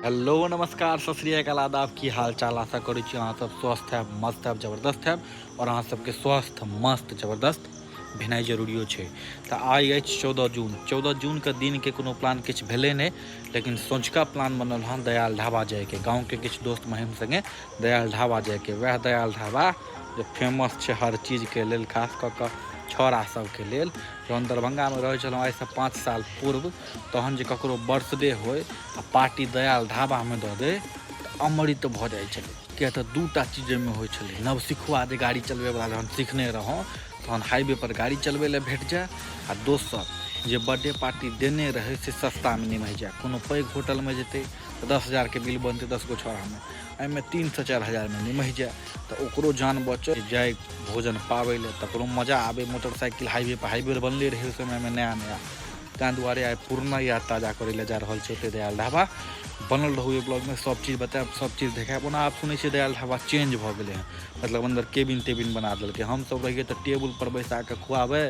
hello नमस्कार सत श्री अकाल आदाब की हाल चाल आशा करै छी अहाँ सब स्वस्थ हैब मस्त हैब जबरदस्त हैब आओर अहाँ सबके स्वस्थ मस्त जबरदस्त भेनाइ जरूरियो छै तऽ आइ अछि चौदह जून चौदह जूनके दिनके कोनो प्लान किछु भेलै नहि लेकिन सँझुका प्लान बनल हँ दयाल ढाबा जाइके गाँवके किछु दोस्त महिम सङ्गे दयाल ढाबा जाइके वएह दयाल ढाबा जे फेमस छै हर चीजके लेल खास कऽ कऽ छौड़ा सबके लेल जहन दरभंगामे रहै छलहुँ आइसँ पाँच साल पूर्व तहन जे ककरो बर्थडे होय आ पार्टी दयाल ढाबामे दऽ दे तऽ अमृत भऽ जाइ छलै किएक तऽ दू टा चीज ओहिमे होइ छलै नवसिखुआ जे गाड़ी चलबैवला जहन सिखने रहौं तहन हाइवेपर गाड़ी चलबै लए भेट जाय आ दोसर जे बर्थडे पार्टी देने रहै से सस्तामे निमहि जाय कोनो पैघ होटलमे जेतै तऽ दस हजारके बिल बनतै दस गो छौड़ामे एहिमे तीनसँ चारि हजारमे निमहि जाए तऽ ओकरो जान बचत जाए भोजन पाबै लए तकरो मजा आबै मोटरसाइकिल हाइवे पर हाइवे बनले रहै समयमे नया नया ताहि दुआरे आइ पुरना याद ताजा करै लए जा रहल छै ओतै दयाल ढाबा बनल रहू एहि ब्लॉगमे सब चीज बतायब सब चीज देखायब ओना आब सुनै छियै दयाल ढाबा चेंज भऽ गेलै हँ मतलब अन्दर केबिन तेबिन बना देलकै हमसब रहियै तऽ टेबुल पर बैसा कऽ खुआबै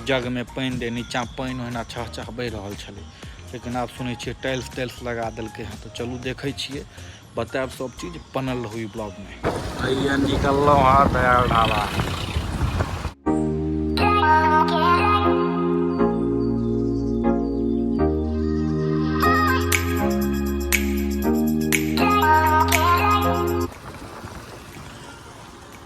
जगमे पानि दै नीचाँ पानि ओहिना छह छह बहि रहल छलै लेकिन आब सुनै छियै टाइल्स टाइल्स लगा देलकै हँ तऽ चलू देखै छियै बतायब सब चीज बनल रहू ई ब्लॉगमे भैया निकललहुँ हँ दयाल ढाबा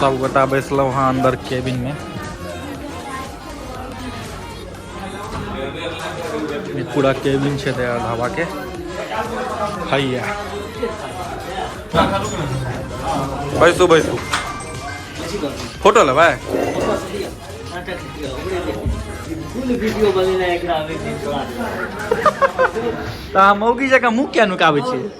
सबगोटा बैसलहुँ हँ अन्दर केबिन में पूरा केबिन छै दया ढाबा के हैया बैसू बैसू फोटो लेबै तऽ अहाँ मौगी जकाँ मुँह किया नुकाबै छियै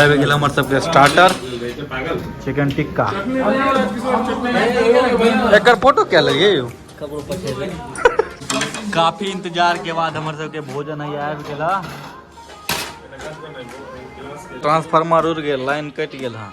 आबि गेल हमर सबके स्टार्टर चिकन टिक्का एकर फोटो क्या लगे यौ काफी इंतजार के बाद हमर सबके भोजन है आबि गेल ट्रांसफार्मर उड़ गेल लाइन कटि गेल हँ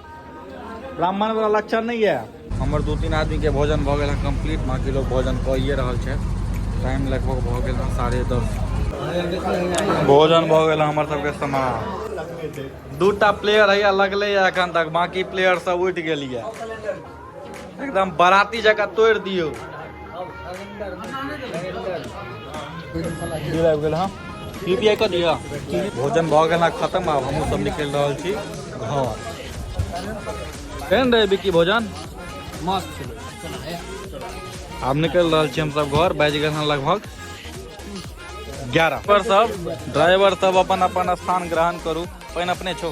ब्राह्मण वाला लक्षण नहीं है हमर दू तीन आदमी के भोजन भऽ गेल है कंप्लीट बाकी लोग भोजन कइए रहल छै टाइम लगभग भऽ गेल है साढ़े दस भोजन भऽ गेल है हमर सबके समाज दूटा प्लेयर है लगले है एखन तक बाकी प्लेयर सब उठि गेल है एकदम बाराती जगह तोड़ दियो यूपीआई कर दिया भोजन भऽ गेल खत्म आब हमहूँ सब निकलि रहल छी घर केहन रहै बिक्की भोजन मस्त आब निकलि रहल छी हमसब घर बाजि गेल लगभग ग्यारह पर सब ड्राइवर सब अपन अपन स्थान ग्रहण करू पानि अपने छौ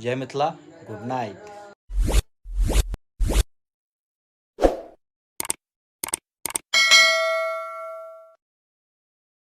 जय मिथिला गुड नाइट